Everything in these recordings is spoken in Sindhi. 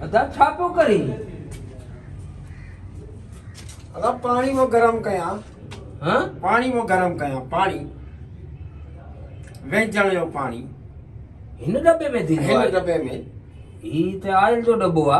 ادا ڇا پيو ڪرين ادا پاڻي مو گرم ڪيان ها پاڻي مو گرم ڪيان پاڻي ويجڻ جو پاڻي هن دبي ۾ ٿي هن دبي ۾ هي ته آئل جو دبو آ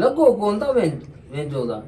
لڳو ڪون ته وينجودا.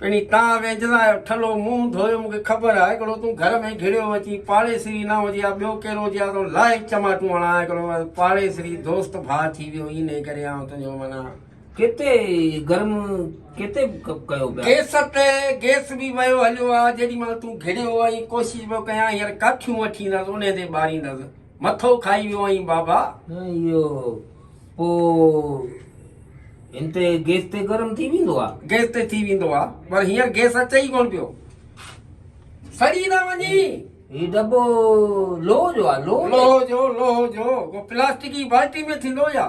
پڻي تان وينجدا آهيو. ٺلهو منهن ڌويو مون کي خبر آهي هڪڙو تون گهر ۾ گهڙيو اچي پاڙيسري نه هجي ها ٻيو ڪير هجي ها تو لاء ئي چماٽون هڻان ها هڪڙو پاڙيسري دوست ڀاء ٿي ويو انهي ڪري آئون تنهنجو منا ڪيتي گرم ڪيتي ڪيو پيا گيس تي گيس به ويو هليو آ جيڏي مهل تون گهڙيو آهين ڪوشش پيو ڪيان هينئر ڪاٺيون وٺيندس انهي تي ٻاريندس. مٿو کائي ويو آهين بابا. اهو پوء هن تي گيس تي گرم ٿي ويندو آهي. گيس تي ٿي ويندو آهي پر هينئر گيس اچي ئي ڪونه پيو. سڙي نه وڃين. هي دٻو لوهه جو آهي. لوهه جو لوهه جو. پلاسٽڪ جي بالٽي ۾ ٿيندو يا.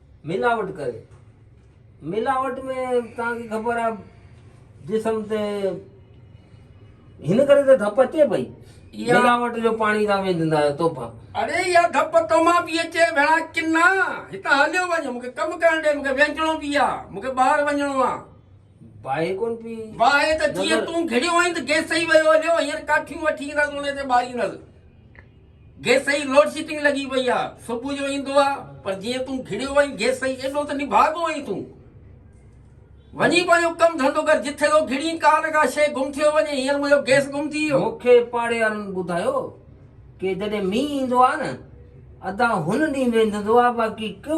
ملاوٽ ڪري ملاوٽ ۾ توهان کي خبر آهي جسم تي هن ڪري ته ڌپ اچي پئي ملاوٽ جو پاڻي تان ويندندا آهيو توبه اڙي يا ڌپ تو مان پي اچي ڀيڻا ڪنا هتان هليو وڃ مونکي ڪم ڪرڻ ڏي مونکي وينچڻو پي آ مونکي ٻاهر وڃڻو آ باهي ڪون پي باهي ته جيئن تون گهڙيو آهين ته گيس ئي ويو هليو هينئر ڪاٺيون وٺي ايندس ان تي ٻاريندس گيسئي لوڊ شيٽنگ لڳي پئي آ صبح جو ايندو آ پر جيئن تون گهڙيو آهين گيسئي ايڏو ته نڀاڳو آهين تون وڃي پنهنجو ڪم ڌنڌو ڪر جتي ٿو گهڙين ڪا نه ڪا شيء گم ٿيو وڃي هينئر منهنجو گيس گم ٿي ويو. مون کي پاڙيوارن ٻڌايو ڪي جڏهن مينهن ايندو آ نه ادا هن ڏينهن ويندندو آ باقي ڪو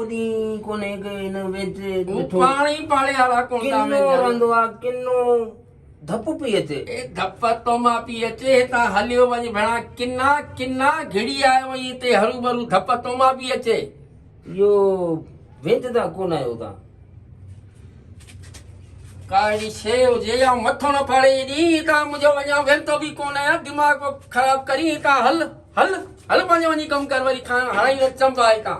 ڏينهن ڪونهي ڪي هن ويندي ڏٺو. هو پاڻ ئي پاڙيوارا ڪوندا وينديا ڪنو رهندو آ ڪنو. ڌپ پئي اچي. اي ڌپ تو مان پئي اچي. هتان هليو وڃ ڀيڻا. ڪنا ڪنا گهڙي آيو ائين تي هروڀرو ڌپ تو مان پئي اچي. اهو وينددا ڪونه آهي هتان. ڪا اهڙي شيء هجي يا مٿو نه ڦاڙي ايڏي هتان منهنجو وڃان ويندو به ڪونه آهيان دماغ ڪو خراب ڪرين هتان هل هل هل پنهنجو وڃي ڪم ڪر وري کان هڻائين نه چنبا هتان.